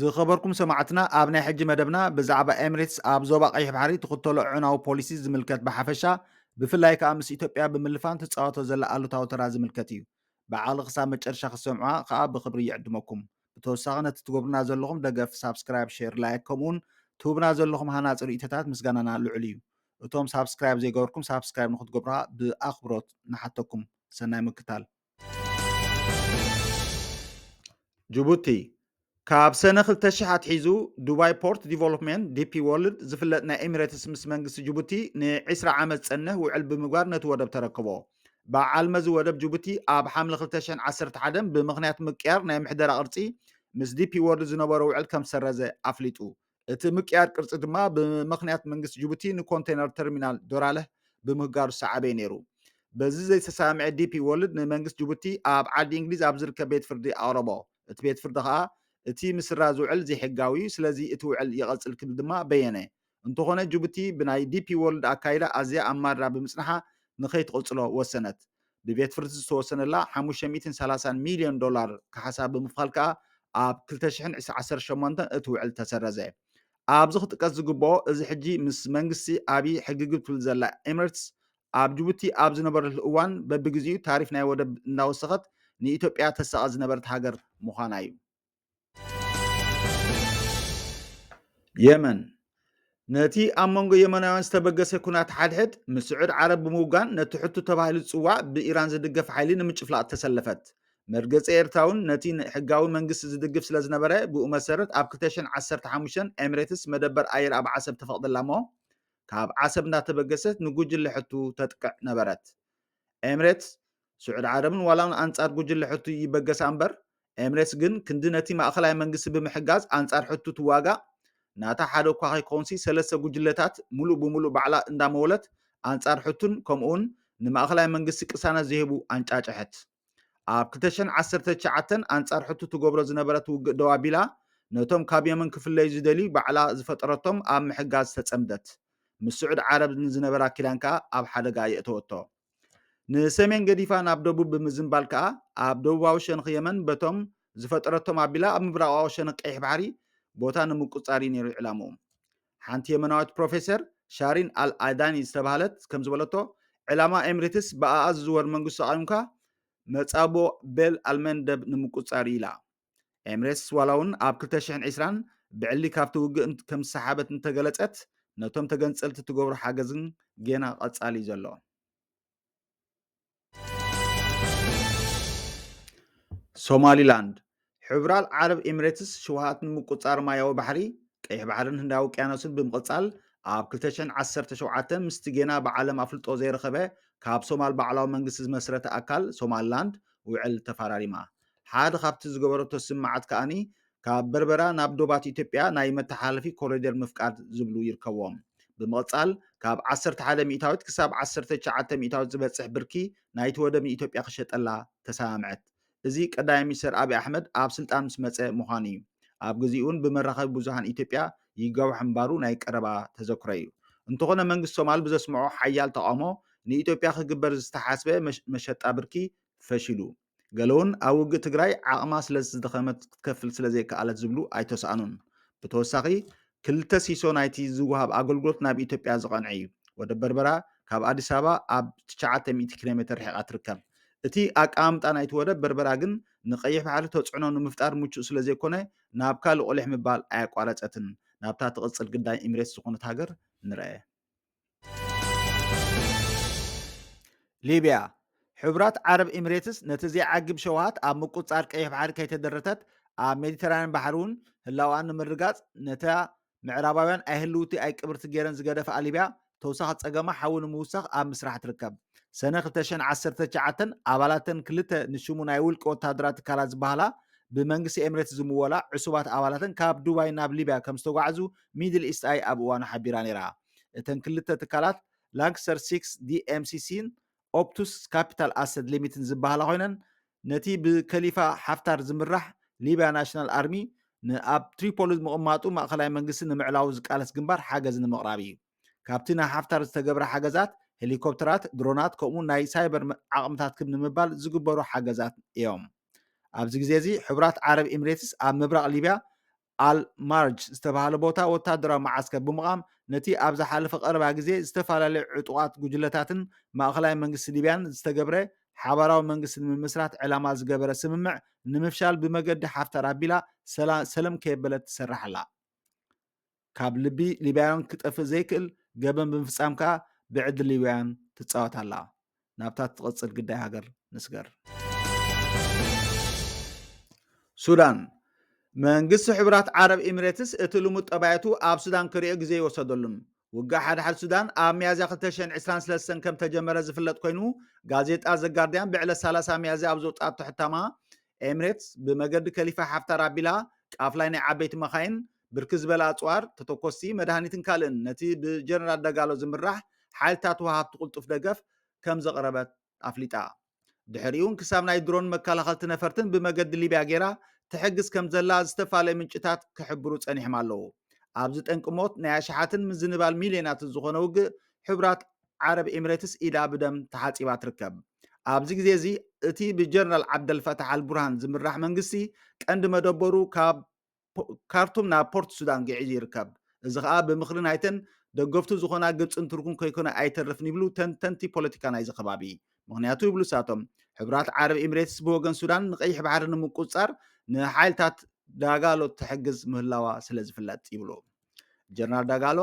ዝኸበርኩም ሰማዕትና ኣብ ናይ ሕጂ መደብና ብዛዕባ ኤምሬትስ ኣብ ዞባ ቀይሕ ባሕሪ ትኽተሎ ዕናዊ ፖሊሲ ዝምልከት ብሓፈሻ ብፍላይ ከዓ ምስ ኢትዮጵያ ብምልፋን ትፃወቶ ዘላ ኣሉታዊ ተራ ዝምልከት እዩ። ብዓቕሊ ክሳብ መጨረሻ ክትሰምዑዋ ከዓ ብኽብሪ ይዕድመኩም። ብተወሳኺ ነቲ ትገብሩና ዘለኹም ደገፍ ሳብስክራይብ ሼር ላይክ ከምኡውን ትህቡና ዘለኹም ሃናጺ ርእይቶታት ምስጋናና ልዑል እዩ እቶም ሳብስክራይብ ዘይገበርኩም ሳብስክራይብ ንክትገብሩ ብኣኽብሮት ንሓተኩም ሰናይ ምክታል ጅቡቲ ካብ ሰነ 2000 ኣትሒዙ ዱባይ ፖርት ዲቨሎፕመንት ዲፒ ወርልድ ዝፍለጥ ናይ ኤሚሬትስ ምስ መንግስቲ ጅቡቲ ን20 ዓመት ዝጸንሕ ውዕል ብምግባር ነቲ ወደብ ተረከቦ በዓል መዚ ወደብ ጅቡቲ ኣብ ሓምለ ክልተ ሽሕን ዓሰርተ ሓደን ብምኽንያት ምቅያር ናይ ምሕደራ ቅርጺ ምስ ዲፒ ዎርልድ ዝነበሮ ውዕል ከምዝሰረዘ ኣፍሊጡ። እቲ ምቅያር ቅርጺ ድማ ብመኽንያት መንግስቲ ጅቡቲ ንኮንተይነር ተርሚናል ዶራለህ ብምህጋሩ ዝሰዓበ'ዩ ነይሩ። በዚ ዘይተሰማምዔ ዲፒ ዎርልድ ንመንግስቲ ጅቡቲ ኣብ ዓዲ እንግሊዝ ኣብ ዝርከብ ቤት ፍርዲ ኣቕረቦ። እቲ ቤት ፍርዲ ከኣ እቲ ምስራዝ ውዕል ዘይሕጋዊ'ዩ፣ ስለዚ እቲ ውዕል ይቐጽል ክብል ድማ በየነ። እንተኾነ ጅቡቲ ብናይ ዲፒ ዎርልድ ኣካይዳ ኣዝያ ኣብ ማድራ ብምጽንሓ ንከይትቕጽሎ ወሰነት። ብቤት ፍርዲ ዝተወሰነላ ሓሙሽተ ሚእትን ሰላሳን ሚልዮን ዶላር ካሕሳ ብምኽፋል ከኣ ኣብ ክልተ ሽሕን ዓሰርተ ሸሞንተን እቲ ውዕል ተሰረዘ። ኣብዚ ክጥቀስ ዝግብኦ እዚ ሕጂ ምስ መንግስቲ ኣብይ ሕግግብ ትብል ዘላ ኤምረትስ ኣብ ጅቡቲ ኣብ ዝነበረትሉ እዋን በብግዜኡ ታሪፍ ናይ ወደብ እንዳወሰኸት ንኢትዮጵያ ተሳቐ ዝነበረት ሃገር ምዃና'ዩ። የመን፣ ነቲ ኣብ መንጎ የመናውያን ዝተበገሰ ኩናት ሓድሕድ ምስ ስዑድ ዓረብ ብምውጋን ነቲ ሕቱ ተባሂሉ ዝጽዋዕ ብኢራን ዝድገፍ ሓይሊ ንምጭፍላቕ ተሰለፈት። መርገጺ ኤርትራውን ነቲ ሕጋዊ መንግስቲ ዝድግፍ ስለ ዝነበረ ብኡ መሰረት ኣብ ክልተ ሽሕን ዓሰርተ ሓሙሽተን ኤምሬትስ መደበር ኣየር ኣብ ዓሰብ ተፈቕደላ'ሞ ካብ ዓሰብ እንዳተበገሰት ንጉጅለ ሕቱ ተጥቅዕ ነበረት። ኤምሬትስ፣ ስዑድ ዓረብን ዋላውን ኣንጻር ጉጅለ ሑቲ ይበገሳ እምበር፣ ኤምሬትስ ግን ክንዲ ነቲ ማእከላይ መንግስቲ ብምሕጋዝ ኣንጻር ሑቲ ትዋጋእ፣ ናታ ሓደ እኳ ከይኮንሲ ሰለስተ ጉጅለታት ምሉእ ብምሉእ ባዕላ እንዳመወለት ኣንጻር ሑትን ከምኡውን ንማእከላይ መንግስቲ ቅሳነት ዘይህቡ ኣንጫጨሐት። ኣብ ክልተ ሽሕን ዓሰርተ ትሽዓተን ኣንጻር ሑቲ ትገብሮ ዝነበረት ውግእ ደው ኣቢላ ነቶም ካብ የመን ክፍለዩ ዝደልዩ ባዕላ ዝፈጠረቶም ኣብ ምሕጋዝ ተጸምደት። ምስ ስዑድ ዓረብ ንዝነበራ ኪዳን ከኣ ኣብ ሓደጋ ኣየእተወቶ። ንሰሜን ገዲፋ ናብ ደቡብ ብምዝንባል ከኣ ኣብ ደቡባዊ ሸንኽ የመን በቶም ዝፈጠረቶም ኣቢላ ኣብ ምብራቓዊ ሸንኽ ቀይሕ ባሕሪ ቦታ ንምቁጽጻር እዩ ነይሩ ዕላምኡ። ሓንቲ የመናዊት ፕሮፌሰር ሻሪን ኣል ኣዳኒ ዝተባህለት ከም ዝበለቶ ዕላማ ኤምሬትስ ብኣኣ ዝዝወር መንግስቲ ተቓዊምካ መጻብቦ ቤል ኣልመንደብ ንምቁጽጻር እዩ ኢላ። ኤምሬትስ ዋላ እውን ኣብ 2020 ብዕሊ ካብቲ ውግእ ከም ዝሰሓበት እንተገለጸት ነቶም ተገንጸልቲ እትገብሮ ሓገዝ ግን ጌና ቀጻሊ እዩ ዘሎ ሶማሊላንድ ሕብራል ዓረብ ኤምሬትስ ሽውሃት ንምቁጻር ማያዊ ባሕሪ ቀይሕ ባሕርን ህንዳዊ ውቅያኖስን ብምቕጻል ኣብ 2017 ምስቲ ጌና ብዓለም ኣፍልጦ ዘይረኸበ ካብ ሶማል ባዕላዊ መንግስቲ ዝመስረተ ኣካል ሶማልላንድ ውዕል ተፈራሪማ ሓደ ካብቲ ዝገበረቶ ስምምዓት ከኣ ካብ በርበራ ናብ ዶባት ኢትዮጵያ ናይ መተሓላለፊ ኮሪደር ምፍቃድ ዝብሉ ይርከብዎም። ብምቕጻል ካብ ዓሰርተ ሓደ ሚእታዊት ክሳብ ዓሰርተ ትሽዓተ ሚእታዊት ዝበጽሕ ብርኪ ናይቲ ወደብ ንኢትዮጵያ ክሸጠላ ተሰማምዐት። እዚ ቀዳማይ ሚኒስተር ኣብይ ኣሕመድ ኣብ ስልጣን ምስ መጸ ምዃኑ እዩ። ኣብ ግዜኡ'ውን ብመራኸቢ ብዙሃን ኢትዮጵያ ይጋዋሕ ምንባሩ ናይ ቀረባ ተዘክሮ እዩ። እንተኾነ መንግስቲ ሶማል ብዘስምዖ ሓያል ተቓውሞ ንኢትዮጵያ ክግበር ዝተሓስበ መሸጣ ብርኪ ፈሺሉ። ገለውን ኣብ ውግእ ትግራይ ዓቕማ ስለዝደኸመት ክትከፍል ስለዘይከኣለት ዝብሉ ኣይተሳእኑን። ብተወሳኺ ክልተ ሲሶ ናይቲ ዝወሃብ ኣገልግሎት ናብ ኢትዮጵያ ዝቐንዐ እዩ። ወደብ በርበራ ካብ ኣዲስ ኣበባ ኣብ ትሽዓተ ሚእቲ ኪሎ ሜተር ርሒቓ ትርከብ። እቲ ኣቀማምጣ ናይቲ ወደብ በርበራ ግን ንቀይሕ ባሕሪ ተፅዕኖ ንምፍጣር ምቹእ ስለዘይኮነ ናብ ካልእ ቁሊሕ ምባል ኣየቋረፀትን። ናብታ ትቕፅል ግዳይ ኢሚሬትስ ዝኾነት ሃገር ንርኣ። ሊብያ ሕቡራት ዓረብ ኤምሬትስ ነቲ ዘይዓግብ ሸውሃት ኣብ ምቁፃር ቀይሕ ባሕሪ ከይተደረተት ኣብ ሜዲተራንያን ባሕሪ እውን ህላውኣ ንምርጋፅ ነታ ምዕራባውያን ኣይህልውቲ ኣይቅብርቲ ገይረን ዝገደፋ ሊብያ ተወሳኺ ፀገማ ሓዊ ንምውሳኽ ኣብ ምስራሕ ትርከብ ሰነ 219 ኣባላተን ክልተ ንሽሙ ናይ ውልቂ ወታደራት ትካላት ዝበሃላ ብመንግስቲ ኤምሬትስ ዝምወላ ዕሱባት ኣባላተን ካብ ዱባይ ናብ ሊብያ ከም ዝተጓዕዙ ሚድል ኢስት ኣይ ኣብ እዋኑ ሓቢራ ነይራ። እተን ክልተ ትካላት ላንክሰር ሲክስ ዲኤምሲሲን ኦፕቱስ ካፒታል ኣሰት ሊሚትን ዝበሃላ ኮይነን ነቲ ብከሊፋ ሓፍታር ዝምራሕ ሊብያ ናሽናል ኣርሚ ንኣብ ትሪፖሊ ምቕማጡ ማእኸላይ መንግስቲ ንምዕላዉ ዝቃለስ ግንባር ሓገዝ ንምቕራብ እዩ። ካብቲ ንሓፍታር ዝተገብረ ሓገዛት ሄሊኮፕተራት፣ ድሮናት ከምኡውን ናይ ሳይበር ዓቕምታት ክብ ንምባል ዝግበሩ ሓገዛት እዮም። ኣብዚ ግዜ እዚ ሕቡራት ዓረብ ኢሚሬትስ ኣብ ምብራቕ ሊብያ ኣል ማርጅ ዝተባህለ ቦታ ወታደራዊ መዓስከር ብምቛም ነቲ ኣብ ዝሓለፈ ቀረባ ግዜ ዝተፈላለዩ ዕጡቓት ጉጅለታትን ማእኸላይ መንግስቲ ሊብያን ዝተገብረ ሓባራዊ መንግስቲ ንምምስራት ዕላማ ዝገበረ ስምምዕ ንምፍሻል ብመገዲ ሓፍታር ኣቢላ ሰለም ከየበለት ትሰርሕ ኣላ። ካብ ልቢ ሊብያውያን ክጠፍእ ዘይክእል ገበን ብምፍፃም ከዓ ብዕድል ሊብያውያን ትፃወት ኣላ። ናብታ ትቕጽል ግዳይ ሃገር ንስገር። ሱዳን፣ መንግስቲ ሕቡራት ዓረብ ኢሚሬትስ እቲ ልሙድ ጠባያቱ ኣብ ሱዳን ክሪኦ ግዜ ይወሰደሉን ውግእ ሓድሓድ ሱዳን ኣብ ሚያዝያ 2023 ከም ተጀመረ ዝፍለጥ ኮይኑ ጋዜጣ ዘጋርዲያን ብዕለት 30 ሚያዝያ ኣብ ዘውፅኣቶ ሕታማ ኤምሬትስ ብመገዲ ከሊፋ ሓፍታር ኣቢላ ቃፍላይ ናይ ዓበይቲ መኻይን ብርክት ዝበለ ኣጽዋር፣ ተተኮስቲ፣ መድሃኒትን ካልእን ነቲ ብጀነራል ደጋሎ ዝምራሕ ሓይልታት ወሃብቲ ቅልጡፍ ደገፍ ከምዘቕረበት ኣፍሊጣ። ድሕሪኡ'ውን ክሳብ ናይ ድሮን መከላኸልቲ ነፈርትን ብመገዲ ሊብያ ገይራ ትሕግዝ ከምዘላ ዝተፋለዩ ምንጭታት ክሕብሩ ጸኒሕም ኣለዉ። ኣብዚ ጠንቂ ሞት ናይ ኣሽሓትን ምዝንባል ሚልዮናትን ዝኾነ ውግእ ሕቡራት ዓረብ ኤሚሬትስ ኢዳ ብደም ተሓጺባ ትርከብ። ኣብዚ ግዜ እዚ እቲ ብጀነራል ዓብደልፈታሕ ኣልቡርሃን ዝምራሕ መንግስቲ ቀንዲ መደበሩ ካብ ካርቱም ናብ ፖርት ሱዳን ግዒዙ ይርከብ። እዚ ከኣ ብምኽሪ ናይተን ደገፍቱ ዝኾና ግብጽን ቱርክን ከይኮነ ኣይተርፍን ይብሉ ተንተንቲ ፖለቲካ ናይዚ ከባቢ። ምኽንያቱ ይብሉ እሳቶም፣ ሕቡራት ዓረብ ኢምሬትስ ብወገን ሱዳን ንቀይሕ ባሕሪ ንምቁጽጻር ንሓይልታት ዳጋሎ ትሕግዝ ምህላዋ ስለዝፍለጥ ይብሉ። ጀነራል ዳጋሎ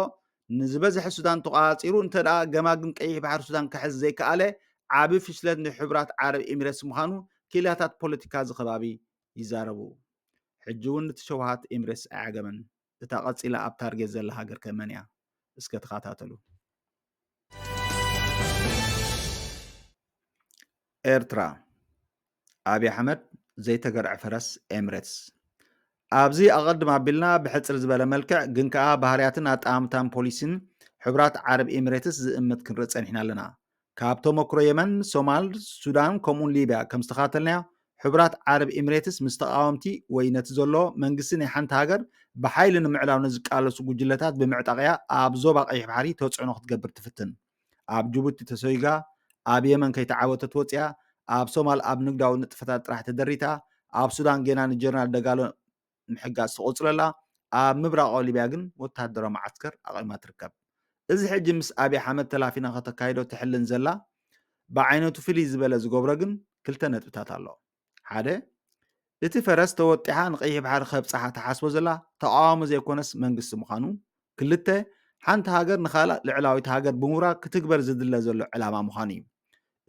ንዝበዝሐ ሱዳን ተቆጻጺሩ እንተደኣ ገማግም ቀይሕ ባሕሪ ሱዳን ክሕዝ ዘይከኣለ ዓቢ ፍሽለት ንሕቡራት ዓረብ ኢምሬትስ ምዃኑ ኪላታት ፖለቲካ እዚ ከባቢ ይዛረቡ ሕጂ ውን እቲ ሸውሃት ኤምሬትስ ኣይዓገበን እታ ቀጺላ ኣብ ታርጌት ዘላ ሃገር ከ መን እያ እስከ ተኻታተሉ። ኤርትራ ኣብይ ኣሕመድ ዘይተገርዐ ፈረስ ኤምሬትስ ኣብዚ ኣቐድም ኣቢልና ብሕፅር ዝበለ መልክዕ ግን ከኣ ባህርያትን ኣጠማምታን ፖሊሲን ሕቡራት ዓረብ ኤምሬትስ ዝእምት ክንርኢ ጸኒሕና ኣለና። ካብ ተሞክሮ የመን፣ ሶማል፣ ሱዳን ከምኡውን ሊብያ ከም ዝተኻተልናዮ፣ ሕቡራት ዓረብ ኢምሬትስ ምስ ተቓወምቲ ወይ ነቲ ዘሎ መንግስቲ ናይ ሓንቲ ሃገር ብሓይሊ ንምዕላው ንዝቃለሱ ጉጅለታት ብምዕጣቕ እያ ኣብ ዞባ ቀይሕ ባሕሪ ተጽዕኖ ክትገብር ትፍትን። ኣብ ጅቡቲ ተሰጉጋ፣ ኣብ የመን ከይተዓወተት ወጺኣ፣ ኣብ ሶማል ኣብ ንግዳዊ ንጥፈታት ጥራሕ ተደሪታ፣ ኣብ ሱዳን ጌና ንጀነራል ደጋሎ ምሕጋዝ ተቖጽሎ ኣላ፣ ኣብ ምብራቓዊ ሊብያ ግን ወተሃደራዊ መዓስከር ኣቚማ ትርከብ። እዚ ሕጂ ምስ ኣብይ ሓመድ ተላፊና ከተካይዶ ትሕልን ዘላ ብዓይነቱ ፍልይ ዝበለ ዝገብሮ ግን ክልተ ነጥብታት ኣሎ። ሓደ፣ እቲ ፈረስ ተወጢሓ ንቀይሕ ባሕሪ ከብጽሓ ትሓስቦ ዘላ ተቓዋሚ ዘይኮነስ መንግስቲ ምዃኑ፣ ክልተ፣ ሓንቲ ሃገር ንኻልኣ ልዕላዊት ሃገር ብምውራር ክትግበር ዝድለ ዘሎ ዕላማ ምዃኑ እዩ።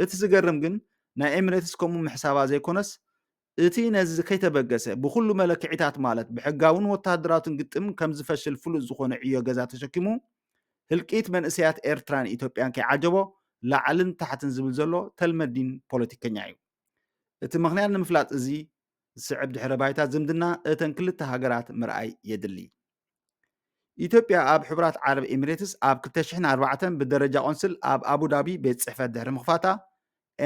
እቲ ዝገርም ግን ናይ ኤምሬትስ ከምኡ ምሕሳባ ዘይኮነስ እቲ ነዚ ከይተበገሰ፣ ብኹሉ መለክዒታት ማለት ብሕጋውን ወተሃደራውትን ግጥም ከም ዝፈሽል ፍሉጥ ዝኾነ ዕዮ ገዛ ተሸኪሙ፣ ህልቂት መንእሰያት ኤርትራን ኢትዮጵያን ከይዓጀቦ ላዕልን ታሕትን ዝብል ዘሎ ተልመዲን ፖለቲከኛ እዩ። እቲ ምኽንያት ንምፍላጥ እዚ ዝስዕብ ድሕረ ባይታ ዝምድና እተን ክልተ ሃገራት ምርኣይ የድሊ። ኢትዮጵያ ኣብ ሕቡራት ዓረብ ኤሚሬትስ ኣብ 2004 ብደረጃ ቆንስል ኣብ ኣቡዳቢ ቤት ጽሕፈት ድሕሪ ምኽፋታ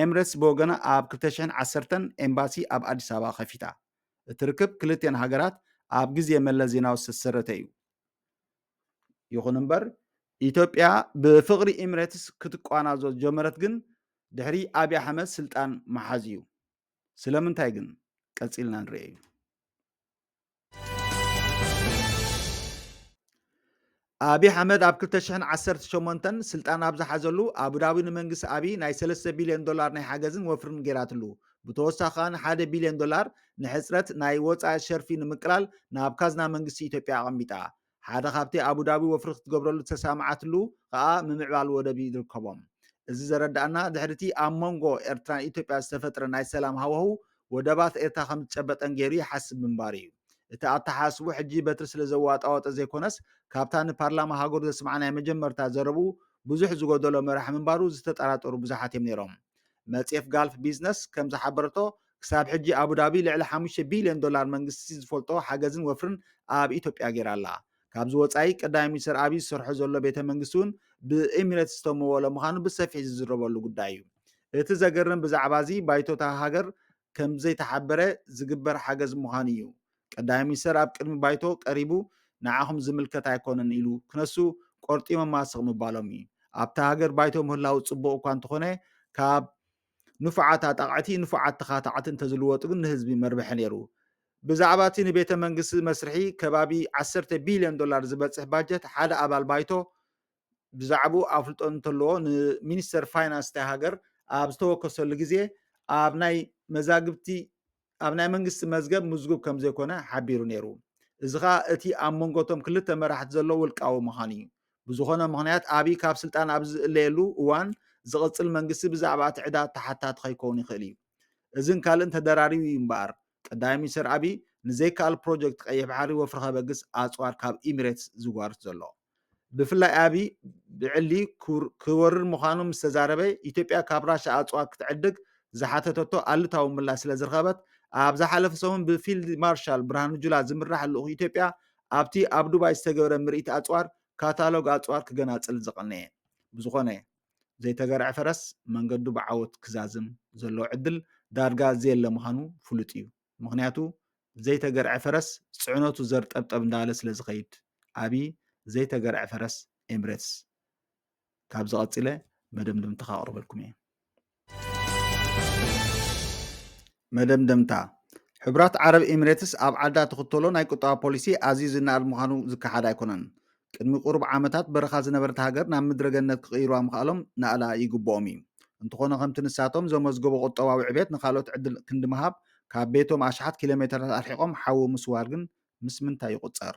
ኤምሬትስ ብወገና ኣብ 2010 ኤምባሲ ኣብ ኣዲስ ኣበባ ከፊታ እቲ ርክብ ክልቲኤን ሃገራት ኣብ ግዜ መለስ ዜናዊ ዝተሰረተ እዩ ይኹን እምበር ኢትዮጵያ ብፍቕሪ ኤምሬትስ ክትቋናዞ ዝጀመረት ግን ድሕሪ ኣብዪ ኣሕመድ ስልጣን መሓዝ እዩ ስለምንታይ ግን ቀፂልና ንርአ እዩ ኣብይ ኣሕመድ ኣብ 2018 ስልጣን ኣብ ዝሓዘሉ ኣቡዳቢ ንመንግስቲ ኣብይ ናይ 3 ቢልዮን ዶላር ናይ ሓገዝን ወፍርን ገይራትሉ። ብተወሳኺ ከኣ ሓደ ቢልዮን ዶላር ንሕፅረት ናይ ወፃኢ ሸርፊ ንምቅላል ናብ ካዝና መንግስቲ ኢትዮጵያ ኣቐሚጣ። ሓደ ካብቲ ኣቡዳቢ ወፍሪ ክትገብረሉ ዝተሰማማዓትሉ ከኣ ምምዕባል ወደብ ይርከቦም። እዚ ዘረደኣና ድሕሪቲ ኣብ ሞንጎ ኤርትራን ኢትዮጵያ ዝተፈጥረ ናይ ሰላም ሃዋሁ ወደባት ኤርትራ ከምዝጨበጠን ገይሩ ይሓስብ ምንባሩ እዩ። እቲ ኣተሓሳስብኡ ሕጂ በትሪ ስለዘዋጣወጠ ዘይኮነስ ካብታ ንፓርላማ ሃገሩ ዘስምዓ ናይ መጀመርታ ዘረብኡ ብዙሕ ዝጎደሎ መራሒ ምንባሩ ዝተጠራጠሩ ብዙሓት እዮም ነይሮም። መጽሔት ጋልፍ ቢዝነስ ከምዝሓበረቶ ክሳብ ሕጂ ኣቡዳቢ ልዕሊ ሓሙሽተ ቢልዮን ዶላር መንግስቲ ዝፈልጦ ሓገዝን ወፍርን ኣብ ኢትዮጵያ ገይራ ኣላ። ካብዚ ወጻኢ ቀዳማይ ሚኒስተር ኣብይ ዝሰርሖ ዘሎ ቤተ መንግስቲ እውን ብኤሚሬትስ ዝተመወለ ምዃኑ ብሰፊሕ ዝዝረበሉ ጉዳይ እዩ። እቲ ዘገርም ብዛዕባ እዚ ባይቶ እታ ሃገር ከምዘይተሓበረ ዝግበር ሓገዝ ምዃኑ እዩ። ቀዳማይ ሚኒስተር ኣብ ቅድሚ ባይቶ ቀሪቡ ንዓኹም ዝምልከት ኣይኮነን ኢሉ ክነሱ ቆርጢሞማ ስቕ ምባሎም እዩ። ኣብታ ሃገር ባይቶ ምህላው ጽቡቕ እኳ እንተኾነ ካብ ንፉዓት ኣጣቕዕቲ ንፉዓት ተኻታዕቲ እንተዝልወጡ ግን ንህዝቢ መርብሒ ነይሩ። ብዛዕባ እቲ ንቤተ መንግስቲ መስርሒ ከባቢ ዓሰርተ ቢልዮን ዶላር ዝበጽሕ ባጀት ሓደ ኣባል ባይቶ ብዛዕብኡ ኣፍልጦ እንተለዎ ንሚኒስተር ፋይናንስ እታ ሃገር ኣብ ዝተወከሰሉ ግዜ ኣብ ናይ መዛግብቲ ኣብ ናይ መንግስቲ መዝገብ ምዝጉብ ከም ዘይኮነ ሓቢሩ ነይሩ። እዚ ከኣ እቲ ኣብ መንጎ እቶም ክልተ መራሕቲ ዘሎ ውልቃዊ ምዃን እዩ። ብዝኾነ ምኽንያት ኣብይ ካብ ስልጣን ኣብ ዝእለየሉ እዋን ዝቕጽል መንግስቲ ብዛዕባ እቲ ዕዳ ተሓታቲ ከይከውን ይኽእል እዩ። እዝን ካልእን ተደራሪቡ እዩ እምበኣር ቀዳማይ ሚኒስተር ኣብይ ንዘይከኣል ፕሮጀክት ቀይሕ ባሕሪ ወፍሪ ከበግስ ኣጽዋር ካብ ኢሚሬትስ ዝጓርት ዘሎ። ብፍላይ ኣብይ ብዕሊ ክወርር ምዃኑ ምስ ተዛረበ፣ ኢትዮጵያ ካብ ራሻ ኣጽዋር ክትዕድግ ዝሓተተቶ ኣሉታዊ ምላሽ ስለ ዝረኸበት፣ ኣብ ዝሓለፈ ሰሙን ብፊልድ ማርሻል ብርሃኑ ጁላ ዝምራሕ ልኡኽ ኢትዮጵያ ኣብቲ ኣብ ዱባይ ዝተገብረ ምርኢት ኣጽዋር ካታሎግ ኣጽዋር ክገናጽል ዝቐነየ። ብዝኾነ፣ ዘይተገርዐ ፈረስ መንገዱ ብዓወት ክዛዝም ዘለዎ ዕድል ዳርጋ ዘየለ ምዃኑ ፍሉጥ እዩ። ምኽንያቱ ዘይተገርዐ ፈረስ ፅዕነቱ ዘር ጠብጠብ እንዳበለ ስለ ዝኸይድ ኣብይ ዘይተገርዐ ፈረስ ኤምሬትስ ካብዚ ቀፂለ መደምደምታ ከቕርበልኩም እየ መደምደምታ ሕብራት ዓረብ ኤምሬትስ ኣብ ዓዳ ትኽተሎ ናይ ቁጠባ ፖሊሲ ኣዝዩ ዝነኣድ ምዃኑ ዝከሓድ ኣይኮነን ቅድሚ ቁሩብ ዓመታት በረኻ ዝነበረት ሃገር ናብ ምድረ ገነት ክቕይሩዋ ምኽኣሎም ናእላ ይግብኦም እዩ። እንተኾነ ከምቲ ንሳቶም ዘመዝገቦ ቁጠባዊ ዕቤት ንኻልኦት ዕድል ክንዲ ምሃብ ካብ ቤቶም ኣሽሓት ኪሎሜተራት ኣርሒቖም ሓዊ ምስዋር ግን ምስ ምንታይ ይቑጸር?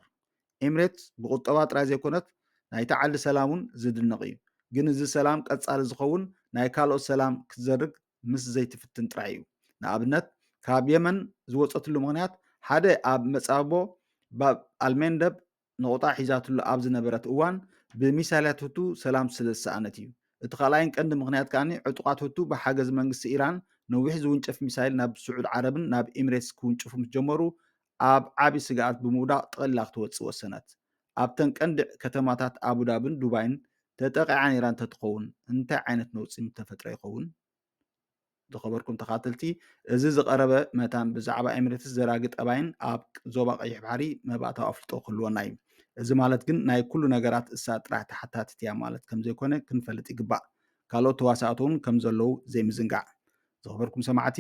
ኤምሬትስ ብቁጠባ ጥራይ ዘይኮነት ናይታ ዓዲ ሰላም እውን ዝድነቕ እዩ። ግን እዚ ሰላም ቀጻሊ ዝኸውን ናይ ካልኦት ሰላም ክትዘርግ ምስ ዘይትፍትን ጥራይ እዩ። ንኣብነት ካብ የመን ዝወጸትሉ ምኽንያት ሓደ ኣብ መጻብቦ ባብ ኣልመንደብ ነቑጣ ሒዛትሉ ኣብ ዝነበረት እዋን ብሚሳይላት ሁቱ ሰላም ስለ ዝሰኣነት እዩ። እቲ ካልኣይን ቀንዲ ምኽንያት ከኣ ዕጡቓት ሁቱ ብሓገዝ መንግስቲ ኢራን ነዊሕ ዝውንጨፍ ሚሳይል ናብ ስዑድ ዓረብን ናብ ኤሚሬትስ ክውንጭፉ ምስ ጀመሩ ኣብ ዓቢ ስግኣት ብምውዳቕ ጠቕሊላ ክትወጽእ ወሰነት። ኣብተን ቀንዲ ከተማታት ኣቡዳብን ዱባይን ተጠቒዓ ነይራ እንተትኸውን እንታይ ዓይነት ነውጺ ምተፈጥረ ይኸውን? ዝኸበርኩም ተኻተልቲ እዚ ዝቐረበ መታን ብዛዕባ ኤምሬትስ ዘራጊ ጠባይን ኣብ ዞባ ቀይሕ ባሕሪ መባእታዊ ኣፍልጦ ክህልወና እዩ። እዚ ማለት ግን ናይ ኩሉ ነገራት እሳ ጥራሕ ተሓታቲት እያ ማለት ከምዘይኮነ ክንፈልጥ ይግባእ። ካልኦት ተዋሳእቲ እውን ከምዘለዉ ዘይምዝንጋዕ። ዝኸበርኩም ሰማዕቲ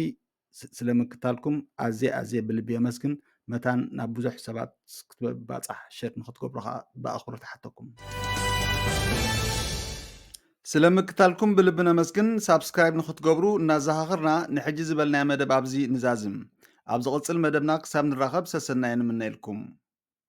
ስለ ምክታልኩም ኣዝየ ኣዝየ ብልቢ የመስግን መታን ናብ ብዙሕ ሰባት ክትባጻሕ ሸር ንክትገብሩ ከዓ ብኣኽብሮት ይሓተኩም። ስለ ምክታልኩም ብልቢ ነመስግን ሳብስክራይብ ንክትገብሩ እናዘኻኽርና ንሕጂ ዝበልናዮ መደብ ኣብዚ ንዛዝም ኣብ ዝቕጽል መደብና ክሳብ ንራኸብ ሰሰናየ ንምነየልኩም